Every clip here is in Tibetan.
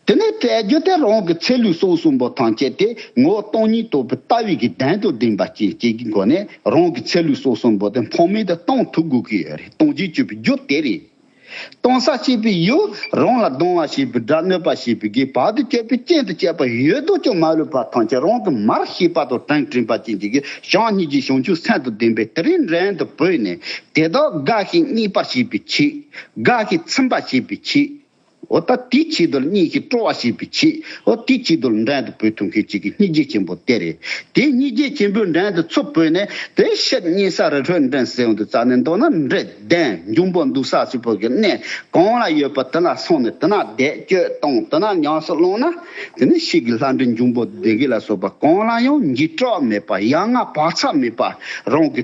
དེ་ནས་དཔལ་རྒྱུད་སྟེ་རང་གི་ཚེ་ལུས་སྲོག་གསུམ་པོ་ཐང་སྐྱེད་དེ་ངོ་བོ་སྟོང་ཉིད་རྟོགས་པའི་ལྟ་བའི་གི་གདན་དུ་བསྒྲེངས་པ་བསྐྱེད་བསྐྱེད་ཀྱི་སྒོ་ནས་རང་གི་ཚེ་ལུས་སྲོག་གསུམ་པོ་དེ་འཕང་མེད་དུ་གཏོང་ཐུབ་དགོས་ཀྱི་ཡོད་རེད་གཏོང་བྱེད་སྤྱོད་པའི་རྒྱུ་དེ་རེད། གཏོང་ས་བྱེད་པའི་ཡུལ་རང་ལ་གདོང་བ་བྱེད་པའི་སྒྲ་གནོད་པ་བྱེད་པའི་གི་བར་དུ་བསྐྱེད་པའི་རྐྱེན་དུ་བཅས་པ་ཡོད་དོ་ཅོག་མ་ལུས་པ་ཐང་སྐྱེད་རང་གི་མར་ཤེས་པ་དང་བྲང་བྲིན་པ་བཅས་ཀྱི་གི་ཞང་གཉིས་ཀྱི་ཞིང་ཆུ་སྲན་དུ་ལྡན་པས་དེ་རིང་འགྲན་དུ་བོས་ནས་དེ་དག་དགའ་ཞིང་སྙིགས་པར་བྱེད་པའི་ཆེད། དགག་གིས་ཚིམ་པ་བྱེད་པའི་ཕྱིར། འོ་ད་དེའི་ཕྱིར་དུ་གཉིས་ཀྱིས་སྤྲོ་བ་བྱེད་པའི་ཕྱིར། འོ་དེའི་ཕྱིར་དུ་འགྲན་དུ་བོས་ཐུགས་མཁས་གཅིག་གིས་སྙིགས་རྗེ་ཆེན་པོ་སྟེར། དེས་སྙིགས་རྗེ་ཆེན་པོའི་འགྲན་དུ་ཚུར་བོས་ནས་དེ་ཕྱིར་གཉིས་ས་རི་ཁྲོད་འགྲན་སེལ་དུ་བཙལ་ནས་འདོད་ན་འདྲེ་ལྡན་འབྱུང་པོ་འདུག་ས་ཕྱི་བོད་ཀྱི་གནས་གང་ལ་ཡོད་པ་དེ་ལ་སོང་ནས་དེ་ན་བཟླས་བརྗོད་དང་དེ་ན་ཉམས་སུ་བླངས་ན་དེ་ནས་ཕྱིས་ཀྱི་ལྷ་འདྲེ་འབྱུང་པོ་བདེ་དགེ་ལ་སོགས་པ་གང་ལ་ཡང་འཇིགས་སྐྲག་མེད་པ་ཡ་ང་བག་ཆགས་མེད་པ་རང་གི།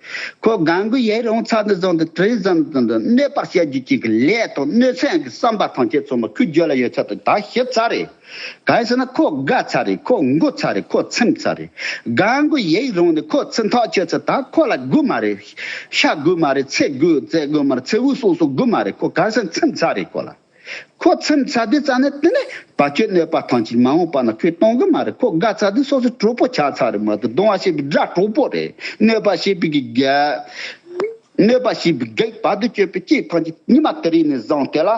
ཁོ་སྒང་དགུ་ཡའི་རོང་ཚ་ནུབ་རྫོང་དུ་ཀྲིན་ཟམ་ཙུང་དུ་གནས་སྤར་བྱ་རྒྱུ་གཅིག་གི་ལས་དང་གནོད་འཚེ་ཡང་གི་བསམ་པ་ཐམས་ཅད་ཚོ་མ་ཁུ་རྒྱོད་ལ་ཡོད་ཚད་དུ་ད་ཞིབ་ཚར་རེད། ག་ས་ན་ཁོ་དགའ་ཚར་རེད་ཁོ་མགུ་ཚར་རེད་ཁོ་ཚིམ་ཚར་རེད། སྒང་དགུ་ཡའི་རོང་ནས་ཁོ་ཚིམ་ཐག་ཆོད་ཚེ་ད་ཁོ་ལ་དགུ་མ་རེད། ཤ་དགུ་མ་རེད་ཚེ་དགུ་ཙེ་དགུ་མ་རེད་ཚེ་དབུས་སོང་སོང་དགུ་མ་རེད་ཁོ་ག་ས་ཚིམ་ཚར་རེད་ཁོ་ལ། ཁོ་ཚེམ་ཚ་དུས་རྩ་ནས་དེ་ནས་བ་ཅོའི་གནོད་པ་ཐང་ཅིག་མ་འོངས་པ་ན་ཁོས་གཏོང་གི་མ་རེད་ཁོ་དགའ་ཚ་དུས་སོ་སོའི་གྲོགས་པོ་ཆགས་ཚར་རེད་མ་གཏོགས་གདོང་བ་ཞེས་པའི་སྒྲ་གྲོགས་པོ་རེད་གནོད་པ་ཞེས་པའི་གི་ག་གནོད་པ་ཞེས་པའི་གག་བ་དུ་སྤྱོད་པའི་སྐྱེས་ཐང་ཅིག་ཉི་མ་དེ་རིང་ནས་བཟང་དེ་ལ་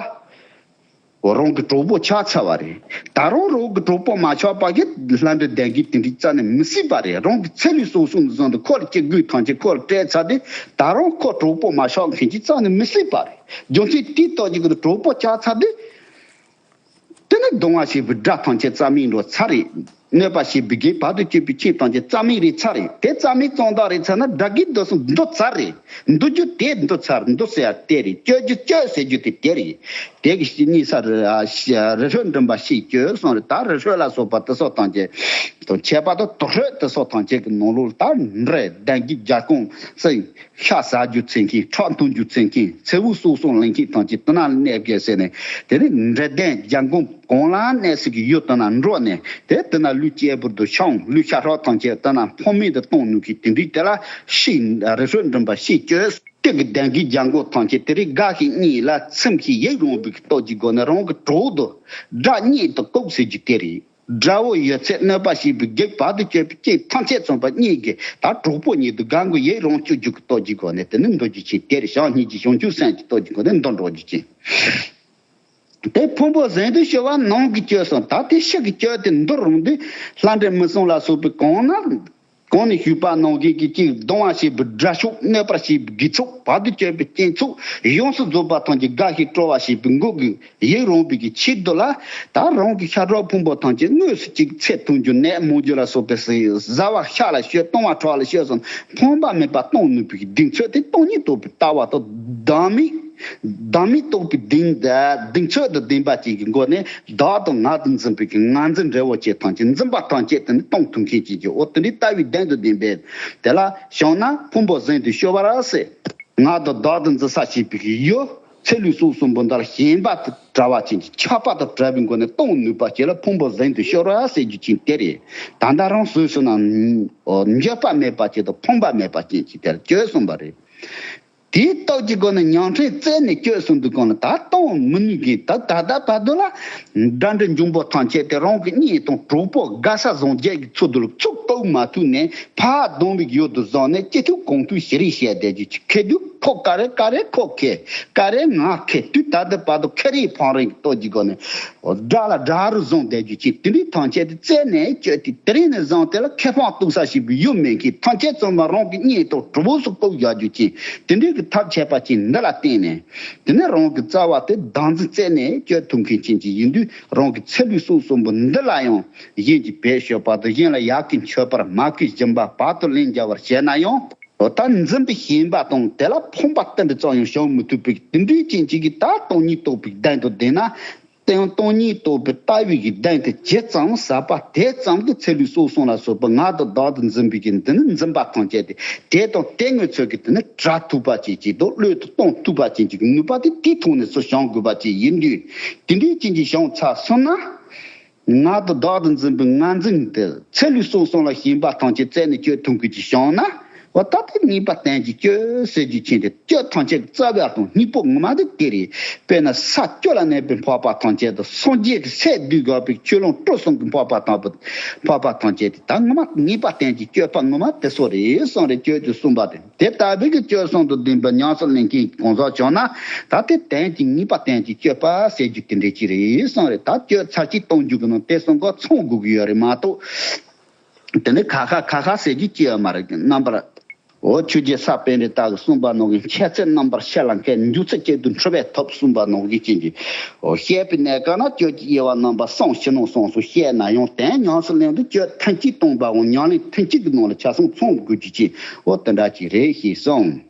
རང་གི་གྲོགས་པོ་ཆགས་ཚར་བ་རེད་ད་རུང་རང་གི་གྲོགས་པོ་མ་ཆགས་པ་གི་ལྷ་འདྲེ་ལྡན་གི་དེ་འདྲའི་རྩ་ནས་མི་སྲིད་པ་རེད་རང་གི་ཚེ་ལུས་སོང་སོང་དུ་བཟང་དུ་ཁོ་ལ་སྐྱེ་དགོས་ཐང་ཅིག་ཁོ་ལ་སྤྲད་ཚར་དུས་ད་རུང་ཁོ་གྲོགས་པོ་མ་ཆགས་མཁན་གྱི་རྩ་ནས་མི་སྲིད་པ་རེད། རྒྱུ་མཚན་དུས་རྟགས་ཀྱི་གྲོགས་པོ་ལྕགས་ཚ་དེ། དེ་ནི་གདོང་བ་ཞེས་པའི་སྒྲ་ཐམས་ཅད་རྩ་མིག་འགྲོ་ཚ་རེད། གནོད་པ་ཞེས་པའི་སྒྲའི་བར་དུ་གཅོད་པའི་ཆོས་ཐམས་ཅད་རྩ་མིག་རེད་ཚ་རེད་དེ་རྩ་མིག་གཙང་དག་རེད་ཚ་ན་དགྲ་བགེགས་འདུ་སོང་འདུ་ཚ་རེད། འདུ་རྒྱུ་དེ་འདུ་ཚ་རེད་འདུ་ཟེར་བ་དེ་རེད་བསྐྱོད་རྒྱུ་བསྐྱོད་ཟེར་རྒྱུ་དེ་དེ་རེད། དེ་གི་གཉིས་ས་རི་རི་ཧྲོད་འགྲིམ་པ་ཞིག་བསྐྱོད་སོང་རེད་ད་རི་ཧྲོད་ལ་སོགས་པ་དེ་སོགས་ཐམས་ཅད་དང་ཁྱད་པར་དུ་དུག་ཧྲོད་དེ་སོགས་ཐམས་ཅད་ཀྱི་ནང་ལོགས་ལ་ད་རི་ལྡན་གྱི་རྒྱ་ཁོངས་སུ་ཤ་ཟ་རྒྱུ་འཚེ་མཁན་ཁྲག་འཐུང་རྒྱུ་འཚེ་མཁན་ཚེ་བུ་གསོ་སྲུང་ལེན་མཁན་དང་གྱི་དོ་ན་གནས་བརྒལ་ཟེར་ནས་དེ་ནི་འདྲེ་ལྡན་རྒྱ་འགོམ་གང་ལ་གནས་སྲིད་ཀྱི་ཡོད་དོ་ན་འགྲོག་ནས་དེ་དེ་ན་ལུས་སྐྱེས་བུར་དུ་ཤོང་ལུས་ཤ་ཧྲོག་ཐང་ཆད་དེ་ན་ཕོ་མེད་དུ་གཏོང་ནུས་ཀྱི་དེ་འདྲིའི་དེ་ལ་ཤི་རེ་ཧྲོད་འགྲིམ་པ་ཤི་གྱོད། སྟེགས་ཀྱི་གདན་གྱི་རྒྱ་འགོ་ཐང་ཆད་དེ་རིགས་དགའ་ཞིང་གཉིད་ལ་ཚིམ་ཞིང་ཡིད་རུང་བའི་སྟོབས་ཀྱི་སྒོ་ནས་རང་གི་གྲོགས་དུ་སྒྲ་སྙན་དུ་བཀུག་ཟེར་རྒྱུ་དེ་རེད། དགྲ་བོ་ཡོད་ཚད་གནོད་པ་ཞིག་བུ་རྒྱུག་བར་དུ་སྐྱོད་པའི་རྐྱེན་ཐམས་ཅད་རྩོམ་པ་གཉིས་ཀྱིས་ད་གྲོགས་པོ་ཉིད་དུ་དགའ་མགུ་ཡིད་རང་སྐྱོ་རྒྱུག་གི་ལྟོ་རྒྱུའི་སྒོ་ནས་དེ་ནི་འདོད་རྒྱུ་ཆེ་དེར་བཞག་གཉིས་ཀྱི་ཞང་ཁྱུང་སེང་གི་ལྟོ་རྒྱུའི་སྒོ་ནས་འདོད་འགྲོགས་རྒྱུ་ཆེ། དེ་ཕུང་པོ་གཟན་དུ་ཤོར་བ་ནང་གི་སྐྱོ་སོང་ད་དེ་ཤི་གི་སྐྱོ་དེ་འདོད་རུང་དུས་ལྷ་འདྲེ་མི་སྲུང་ལ་སོགས་པའི་གང་ན་གང་ནས་བྱུས་པ་ནང་བཞིན་གྱི་ཅིག་གདུང་བ་ཞེས་པའི་སྒྲ་ཕྱོགས་གནས་པར་བྱས་པའི་དགེ་ཕྱོགས་བར་དུ་གཅོད་པའི་སྐྱེས་མཆོག་ཡོངས་སུ་རྫོགས་པ་ཐམས་ཅད་དགའ་ཞིང་སྤྲོ་བ་ཞེས་པའི་འགུགས་དགོས་ཡིད་རངས་པའི་གི་ཕྱིར་དུ་ལ་དྭགས་རང་གི་ཤ་ཁྲག་ཕུང་པོ་ཐམས་ཅད་དངོས་སུ་ཅིག་ཚད་ཐུང་ཅུང་ནད་མོ་རྒྱུ་ལ་སོགས་པའི་ཟས་བཟའ་བ་ཤ་ལ་བཤོས་བཏུང་བ་ཁྲག་ལ་བཤོས་སམ་ཕོངས་པ་མེད་པ་གཏོང་ནུས་པའི་གི་སྡིག་མཚོན་དེ་སྟོང་ཉིད་རྟོགས་པའི་ལྟ་བ་དང་ལྡན་མིན། བདག་མེད་རྟོགས་པའི་གདིང། གདིང་ཚོད་དུ་བདེན་པ་བཅས་ཀྱི་སྒོ་ནས་བདག་དང་ང་དང་འཛིན་པའི་ངང་འཛིན་འབྲས་བུ་བཅས་ཐམས་ཅད་འཛིན་པ་ཐམས་ཅད་དེ་ནི་སྟོང་ཐུན་མཁན་བཅས་ཀྱིའོ་དེ་འདི་ལྟ་བུའི་བདེན་དུ་བདེན་པས། དེ་ལ་ཞོག་ན་ཕུང་པོ་གཟེངས་དུ་གཤོལ་བ་ར་སེ། ང་དང་བདག་དང་འཛིན་ས་བྱས་པའི་ཡོད་ཚད་ལུས་གསུམ་གསུམ་པོ་འདར་ཞེན་པ་དང་བྲལ་བ་ཅན་གྱི་ཁྱབ་པ་དང་བྲལ་བའི་སྒོ་ནས་སྟོང་ནུས་པ་བཅས་ལ་ཕུང་པོ་གཟེངས་དུ་གཤོལ་བ་ར་སེ་རྒྱུ་ཅན་དེ་རེད། ད་ལྟ་རང་བཟོས་སུ་ནའང་འགྱོད་པ་མེད་པ་བཅས་དང་ཕོངས་པ་མེད་པ་ཅན་གྱི་དེར་བཅོས་གསུངས་པ་རེད། དེའི་རྟགས་ཀྱི་སྒོ་ནས་ཉང་ཁྲིའི་རྩེ་ནས་བསྐྱོད་སོང་འདུག་གང་ལ་ད་གཏོང་མི་ནུས་མཁན་ད་ད་ལྟ་བར་དུ་ལ་དགྲ་འདྲེ་འབྱུང་པོ་ཐང་ཆད་དེ་རང་གི་གཉེན་དང་གྲོགས་པོ་དགའ་ས་བཟང་རྒྱལ་གྱི་འཚོ་བསྡུ་ལ་ཚུགས་གཏོགས་མ་ཐུབ་ནས་ཕ་གདོང་རིགས་ཡོད་དུ་བཟང་ནས་སྐྱིད་ཐུབ་གང་ཐུབ་ཞེ་རིགས་བཤད་བསྡད་རྒྱུ་ཁེ་དུས་ཁོ་ཀ་རེ་ཀ་རེ་ཁོ་ཁེ་ཀ་རེ་ང་ཁེ་དུས་ད་ལྟ་བར་དུ་ཁེ་རེའི་ཕང་རེང་གི་རྟགས་ཀྱི་སྒོ་ནས། སྒྲ་ལ་སྒྲ་རུ་བཟང་བསྡད་རྒྱུ་གཅིག་དེ་འདྲའི་ཐང་ཆད་དེ་རྩད་ནས་བཅོས་ཏེ་དེ་རིང་ནས་བཟང་དེ་ལ་ཁེ་ཕང་གཏུག་ས་ཞིག་གི་ཡུལ་མེད་མཁན་ཐང་ཆད་བཙོན་པ་རང་གི་སྙེ་ཐོག་གྲུ་བོ་སུ་བཀུག་བཞག་རྒྱུ་གཅིག་དེ་འདྲའི་གི་ཐབས་ཆད་པ་གཅིག་འདི་ལ་བརྟེན་ནས་དེ་ནས་རང་གི་རྩ་བ་དེ་བདག་འཛིན་རྩད་ནས་བཅོས་ཐུབ་མཁན་ཅན་གཅིག་ཡིན་དུས་རང་གི་ཚེ་བུའི་གསུང་གསུམ་པོ་འདི་ལ་ཡང་གཞན་གྱིས་བེད་ཤོད་པ་དང་གཞན་ལ་ཡག་གི་མཆོད་པར་མ་གིས་སྦྱིན་པ་བག་ཏུ་ལེན་རྒྱ་བར་བྱས་ན་ཡང། ལོ་ལྟར་འཛིན་པའི་ཞེན་པ་དང་དེ་ལ་ཕོངས་པ་བསྟན་པའི་རྩ་ཡང་བྱང་མི་ཐུབ་པས་དེ་འདྲའི་རྐྱེན་གྱིས་གིས་ད་སྟོང་ཉིད་རྟོགས་པའི་གདན་དུ་བསྡད་ན། དེའང་སྟོང་ཉིད་རྟོགས་པའི་ལྟ་བའི་གིས་གདན་དེ་ཇི་ཙམ་ཟབ་པ་དེ་ཙམ་གྱིས་ཚེ་ལུས་སྲོག་གསུམ་ལ་སོགས་པའི་ངག་ཏུ་བདག་ཏུ་འཛིན་པའི་གིས་འདི་ནི་འཛིན་པ་ཐམས་ཅད་དེ་དེ་དང་དེ་ངོས་ཚོས་ཀྱིས་དེ་ནི་གྲ་ཐུབ་པ་ཅན་གྱིས་དང་བློས་དུ་གཏོང་ཐུབ་པ་ཅན་གྱི་གིས་ནུས་པ་དེ་དེའི་ཐུགས་ནས་སུ་བྱང་དགོས་པ་ཅན་ཡིན་དུས་དེ་འདྲའི་རྐྱེན་གྱིས་བྱང་ཚར་སོང་ན། ངག་ཏུ་བདག་ཏུ་འཛིན་པའི་ངར་འཛིན་དེ་ཚེ་ལུས་སྲོག་ཟུངས་ལ་ཞེན་པ་ཐམས་ཅད་རྩད་ནས་གཅོད་ཐུང་ཁུལ་གྱིས་ཤོང་ན། བ་ད་ལྟའི་གཉིས་པ་གཏན་གྱི་སྐྱོ་ཟེར་རྒྱུ་མཁྱེན་ཏེ་སྐྱོ་ཐང་ཆད་ཀྱི་རྩ་བའི་ཨ་ཐང་སྙིང་པོ་ངོ་མ་དེ་དེ་རེད། དཔེར་ན་ས་སྐྱོ་ལ་གནས་པའི་འཕགས་པ་ཐང་ཆད་དང་སངས་རྒྱས་ཀྱི་སས་བསྡུས་དགག་པའི་ཆོས་ལོངས་སྤྲོ་གསུམ་གྱི་འཕགས་པ་དང་པོ་དེ་འཕགས་པ་ཐང་ཆད་དེ་ད་ངོ་མ་གཉིས་པ་གཏན་གྱི་སྐྱོ་པ་ངོ་མ་དེ་སོགས་རེ་ཟུང་རེ་བཅོས་ཀྱིས་གསུངས་པ་དེ། དེ་ལྟ་བུའི་གྱི་སྤྱོད་གསུང་དུ་བདེན་པའི་ཉམས་སུ་ལེན་མཁན་གྱི་གང་ཟག་བྱུང་ན་ད་དེ་དོན་གྱི་ངེས་པ་བསྟན་ཅིག་སྤྱོད་པ་ཟེར་རྒྱུ་དེ་འདྲའི་ཅི་རེད་གསུངས་རེད་ད་སྤྱོད་ཚར་གཅིག་གཏོང་རྒྱུ་གི་ནང་དེ་གསུང་གི་ཚོང་དགོས་གི་ཡོད་རེད་མ་གཏོགས་དེ་འདྲའི་ཁ་ཁ་ཁ་ཁ་ཟེར་རྒྱུ་ཅི་ཡང་མ་རེད་གི་རྣམ་པར། འོ་ཆུ་རྗེ་ས་པན་རི་དྭགས་གི་གསུངས་པ་ནང་གི་འཆད་ཚུལ་རྣམ་པར་བཤད་ལ་མཁས་མཇུག་ཚེ་གཅིག་ཏུ་འཁྲུལ་བས་ཐོབ་གསུངས་པ་ནང་གི་བྱིན་གྱིས་བཤད་པའི་གནད་གང་ན་སྤྱོད་ཀྱི་དབྱེ་བ་རྣམ་པ་གསུམ་ཕྱི་ནང་གསུངས་སུ་བཤད་ན་ཡང་དོན་ཉམས་སུ་ལེན་དུ་སྤྱོད་ཐུན་གཅིག་གཏོང་པའང་ཉམས་ལེན་ཐུན་གཅིག་གི་ནང་ལ་ཆ་གསུང་ཚོང་དགོས་རྒྱུ་ཅི་བོ་དེ་འདྲ་ཅིག་རེད་ཞེས་གསུངས།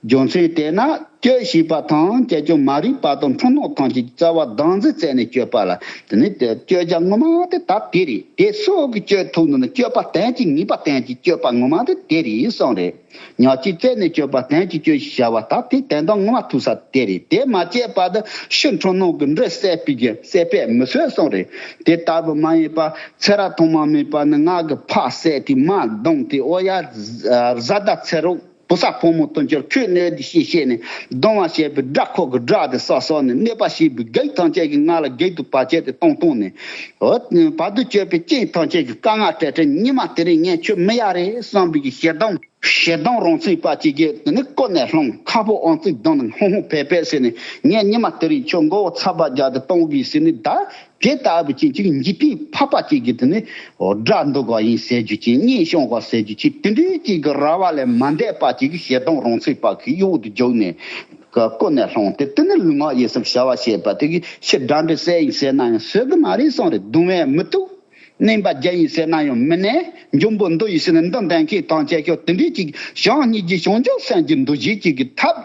རྒྱུ་མཚན་དེས་ན་གྱོད་བྱས་པ་དང་གྱད་གྱོད་མ་རིག་པ་དང་འཁྲུལ་སྣང་ཐམས་ཅད་ཀྱི་རྩ་བ་སྡང་རྫས་བཙལ་ནས་གྱོད་པ་ལ་དེ་ནི་གྱོད་རྒྱ་ངོ་མ་དེ་ད་དེ་རེད་དེ་སོགས་ཀྱི་གྱོད་ཐུག་ནི་ནི་གྱོད་པ་དན་གྱི་ངེས་པ་དན་གྱི་གྱོད་པ་ངོ་མ་དེ་དེ་རེད་གསུངས་རེད་ཉག་གཅིག་བཙལ་ནས་གྱོད་པ་དན་གྱི་གྱོད་ཞེས་བྱ་བ་ད་དེ་དན་དང་ངོ་མ་ཐུག་ས་དེ་རེད་དེ་མ་བྱས་པ་དེ་ཕྱིར་འཁྲུལ་སྣང་གི་འབྲས་སད་པས་མི་སོད་གསུངས་རེད་དེ་ལྟ་བུ་མ་ཡིན་པ། ཚེ་རག་ཐོག་མ་མེད་པ་ནི་སྔགས་ཀྱི་ཕག་བསད་དེ་མ་བརྡུངས་ཏེ་ཨོ་ཡ། བཟའ་ཟླ་ཚེ་རོག་བུ་ས་ཕོ་མོ་དོན་གྱུར་ཁྱོད་གནོད་དེ་ཞེས་བཤད་ནས་གདོང་བ་བྱས་པའི་སྦྲ་ཁོག་གི་སྦྲ་དེ་སྲོག་སྲོག་ནས་གནོད་པ་ཞེས་པའི་བགེགས་ཐམས་ཅད་ཀྱི་སྔགས་ལ་བགེགས་དུ་བར་བྱས་ཏེ་སྟོང་སྟོང་ནས། བར་དུ་གཅོད་པའི་རྐྱེན་ཐམས་ཅད་ཀྱི་བཀའ་མངགས་བྲལ་བྲལ་ཉི་མ་དེ་རིང་ངས་ཁྱོད་མི་ཡ་རེ་བསམ་པའི་གྱི་ཞལ་གདམས། ཞལ་གདམས་རང་ཚིག་པ་ཅི་བགྱི་དེ་ནི་བཀོད་ནས་ལྷུང་ཁ་པོ་ཨང་རྩིག་གདོང་ནས་ཧུང་ཧུང་བེད་བེད་ཟེར་ནས་ངས་ཉི་མ་དེ་རིང་ཁྱོད་མགོ་བོ་ཚ་བ་རྒྱག་དེ་སྟོང་གི་ཟེར་ནས་བདའ། དེ་ལྟ་བུ་ཅན་གཅིག་འཇིག་རྟེན་འཕགས་པ་གཅིག་གིས་དེ་ནི་སྒྲ་འདོགས་པ་ཡིན་ཟེར་རྒྱུ་གཅིག་སྙན་ཤོང་བ་ཟེར་རྒྱུ་གཅིག་དེ་འདྲའི་གཅིག་གི་ར་བ་ལས་མ་འདས་པ་གཅིག་གིས་ཞལ་གདོང་རོང་ཚེ་དཔག་གི་གཡོ་འོག་ཏུ་འཇུག་ནས་བཀོད་ནས་ལྷུང་སྟེ་དེ་ནི་ལུས་ངག་ཡིད་གསུམ་བྱ་བ་བྱེད་པ་དེ་གི་ཕྱིར་སྒྲ་འདི་གསལ་ཡིན་ཟེར་ན་ཡང་ཟེར་གི་མ་རེད་སང་རེད་གདུང་བས་མི་ཐུབ། བསྣན་པ་བརྒྱ་ཡིན་ཟེར་ན་ཡང་མི་གནས། འབྱུང་པོ་འདི་ཡིས་ནི་འདི་འདེང་གི་དང་བཅས་ཤོག་དེ་འདྲའི་གཅིག་གིས་བྱང་སྙིགས་ཀྱི་བྱང་ཆུབ་སེམས་ཀྱི་འདུ་བྱེད་གཅིག་གི་ཐབས།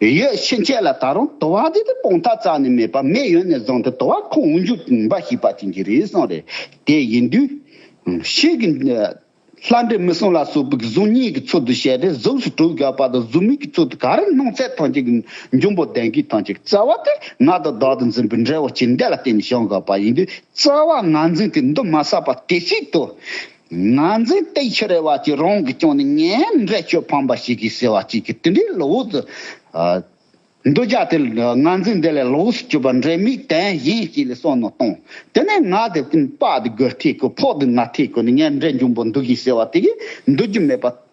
ཡོད་ཕྱིན་ཆད་ལ་ད་རུང་དུ་བ་དེ་དེ་སྤོང་ཐག་ཙག་ནས་མེད་པ་མེ་ཡོད་ནས་བཟུང་སྟེ་དུ་བ་ཁོང་དབུགས་འཇུག་འབའ་ཞིག་པ་ཅན་གྱི་རེའི་གསུང་རེ་དེ་ཡིན་དུས། ཤིག་གིས། ལྷ་འདྲེ་མི་གསུམ་ལ་སོགས་པའི་གཟུགས་བརྙན་གྱི་ཚུལ་དུ་བཤད་དེ་གཟུགས་སུ་གྲུབ་བཞག་པ་དང་གཟུགས་མིག་གི་ཚུལ་དུ་ག་རེ་སྣང་ཚད་ཐམས་ཅད་ཀྱི་འབྱུང་པོ་ལྡན་གྱི་ཐམས་ཅད་ཀྱི་རྩ་བ་དེ་ང་དང་བདག་ཏུ་འཛིན་པའི་འབྲས་བུ་ཅི་འདས་ལ་བརྟེན་ནས་བྱུང་དགོས་པ་ཡིན་དུས་རྩ་བ་ང་འཛིན་གྱི་འདུན་མ་བསགས་པ་དེ་ཞིག་ཏུ། ང་ཚོའི་སྟེགས་ཆུ་རལ་བ་གཅིག་རང་གིས་བསྐྱངས་ནས་ངའི་འབྲས་ཆོས་ཕམ་པ་ཞིག་གིས་ཟེར་བ་གཅིག་གིས་དེ་འདྲའི་བློ་བུར་དུ། འདུ་བྱ་དེ་ང་ཚོས་འདི་ལས་བློ་བུར་དུ་གྱུར་པ་འདྲའི་མིག་དན་གཞན་གཅིག་ལས་སོགས་ནོར་བཏང། དེ་ནས་ང་དེ་དཔག་དུ་དགོས་ཐེག་དགོས་ཕོག་དུ་ང་ཐེག་དགོས་ནས་ངའི་འབྲས་འབྱུང་པོ་འདུག་གིས་ཟེར་བ་དེ་གིས་འདུག་རྒྱུ་མེད་པ།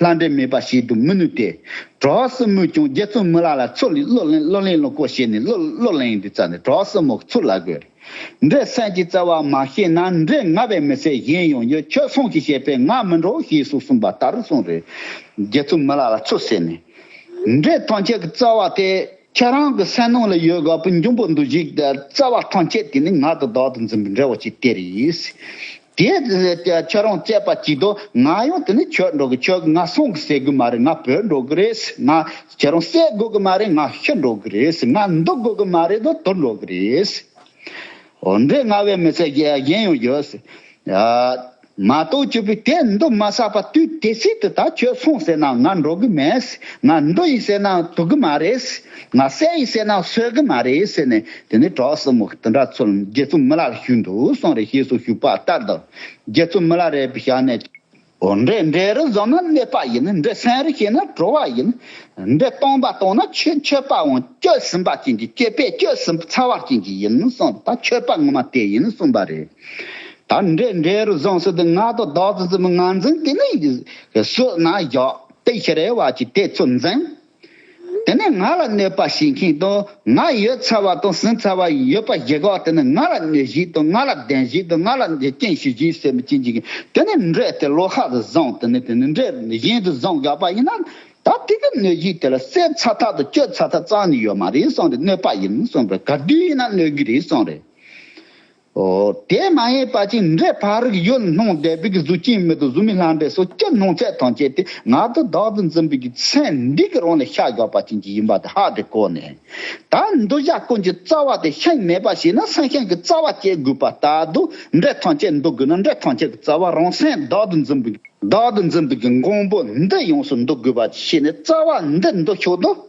ལྷ་འདྲེ་མེད་པ་ཞིག་ཏུ་མི་ནུས་ཏེ། གྲྭ་བ་སྲིན་མོས་ཀྱང་རྒྱལ་བཙུན་མི་ལ་ལ་ཚུར་ལས་བློ་གླིང་བློ་གླིང་བློ་བསྐོ་བྱས་ནས་བློ་བློ་གླིང་དུ་བཙལ་ནས་གྲྭ་བ་སྲིན་མོ་ཚུར་ལ་བགོས། འདྲེ་སྲན་གྱིས་བཙལ་བ་མ་ཤེས་ན་འདྲེ་ང་བས་མི་ཚད་གཞན་ཡང་ཡོད་ཁྱོད་སོང་གིས་བྱས་པས་ང་མི་འགྲོ་ཞེས་སུ་གསུངས་པ་ལྟར་དུ་སོང་རེ། རྒྱལ་བཙུན་མི་ལ་ལ་ཚུར་བསད་ནས། འདྲེ་ཐམས་ཅད་ཀྱི་བཙལ་བ་དེ་ཁྱེད་རང་གི་སེམས་ནང་ལ་ཡོད་དགའ་བུ་འབྱུང་པོ་འདུ་བྱེད་ཀྱི་བཙལ་བ་ཐམས་ཅད་དེ་ནི་ང་དང་བདག་ཏུ་འཛིན་པའི་འདྲེ་བ་ཅིག་སྟེ་རེད། དེའི་རྗེས་ནས་ཀྱི་ཁྱོད་རང་དཔྱད་པ་གྱིས་དོ་ང་ཡང་དེ་ནི་ཁྱོད་འགྲོ་གི་ཁྱོད་ཀྱི་ང་སོང་གི་སེ་གི་མ་རེད་ང་བོད་འགྲོ་གི་རེད་སེ་ང་ཁྱེད་རང་སེ་དགོས་གི་མ་རེད་ང་ཤི་འགྲོ་གི་རེད་སེ་ང་འདུག་དགོས་གི་མ་རེད་དོ་དུར་འགྲོ་གི་རེད་སེ། འོ་འདྲས་ང་བའི་མི་ཚེ་གཞན་ཡང་ཡོད་སེ། མ་གཏོགས་ཁྱོད་བུ་དེ་འདུག་མ་ས་པ་དུས་དེ་སྲིད་དུ་ད་ཁྱོད་སོང་ཟེར་ན་ང་འགྲོ་གི་མེད་སེ་ང་འདུག་ཡིན་ཟེར་ན་དུག་གི་མ་རེད་སེ། ང་བསད་ཡིན་བསད་ན་གསོད་གི་མ་རེད་ཟེར་ནས་དེ་ནས་གྲོགས་གསུམ་མོ་དེ་འདྲ་ཚུར་རྒྱལ་བཙུན་མི་ལ་རུ་བཞུགས་འདུག་སོང་རེ་ཞེས་སུ་བཞུགས་པ་ལྟར་དུ་རྒྱལ་བཙུན་མི་ལ་རེ་བཞག་ནས། འོ་འདྲེ་འདྲེ་རུ་བཟོ་ན་གནོད་པ་ཡིན་འདྲེ་བསད་རུ་བྱེད་ན་བྲོ་བ་ཡིན། འདྲེ་སྟོང་པ་སྟོང་ན་ཆོས་མཆོད་པའང་བསྐྱོད་ཟིན་པ་ཅན་གྱི་སྐྱེས་པས་བསྐྱོད་ཟིན་ཚར་བ་ཅན་གྱི་ཡིན་གསུངས་ད་མཆོད་པ་ངོ་མ་དེ་ཡིན་གསུངས་པ་རེད། ད་འདྲེ་འདྲེ་རུ་བཟོ་ཟེར་དུས་ང་དང་བདག་བཙུན་མོ་ང་འཛིན་དེ་ནས་གསོད་ན་བཞག་དེ་ཤི་རེ་བ་ཅིག་དེ་ཚུར་འཛིན། དེ་ནས་ང་ལ་གནོད་པ་བྱེད་མཁན་དང་ང་ཡོད་ཚར་བ་དང་ཟིན་ཚར་བ་ཡོད་པ་ཞིག་གིས་དེ་ནི་ང་ལ་གནོད་གཞི་དང་ང་ལ་བདེན་གཞི་དང་ང་ལ་འཇིག་རྟེན་ཞི་བཞིའི་སེམས་བསྐྱེད་འཇིག་གི་དེ་ནི་འདྲེ་དེ་ལོག་ཤག་ཏུ་བཟང་དེ་ནི་དེ་ནི་འདྲེ་གཞན་དུ་བཟང་དགག་པ་ཡིན་ན། ད་དེ་གི་གནོད་གཞི་དེ་ལ་སེལ་ཚ་ཐག་དང་གཅོད་ཚ་ཐག་གཙང་ནི་ཡོད་མ་རེད་བསམ་རེད་གནོད་པ་ཡིན་བསམ་རེད་གར་དུས་ཡིན་ན་གནོད་རྒྱུ་རེད་བསམ་རེད། དེས་མ་ཡེངས་པ་ཅིང་འབྲེལ་ཕ་རིགས་ཡུལ་ལྷུང་བདེ་བགེགས་གཟུགས་ཅན་མི་དུ་གཟུགས་མི་ལྷ་འདྲེ་སོ་སྐྱེ་སྣང་ཚད་དང་བཅས་ཏེ་ངག་ཏུ་བདག་ཏུ་འཛིན་པའི་ཚེ་འདི་གི་རང་ལས་ཤ་རྒྱགས་པ་ཅན་གྱི་ཡིན་པ་དེ་ཧ་དེ་བཀོད་ནས། ད་འདུ་བྱ་ཀུན་གྱི་རྩ་བ་དེ་ཤིང་མེད་པ་ཞིག་ན་སེང་ཤིང་གི་རྩ་བ་སྐྱེ་དགོས་པ་ལྟ་དུ་འབྲེལ་ཐམས་ཅད་འདུ་དགོས་ན་འབྲེལ་ཐམས་ཅད་ཀྱི་རྩ་བ་རང་སེམས་བདག་ཏུ་འཛིན་པའི་བདག་ཏུ་འཛིན་པའི་གི་མགོན་པོ་འདི་ཡོངས་སུ་འདུ་དགོས་པ་ཞིག་ནས་རྩ་བ་འདི་འདུ་ཆོག་ཏུ།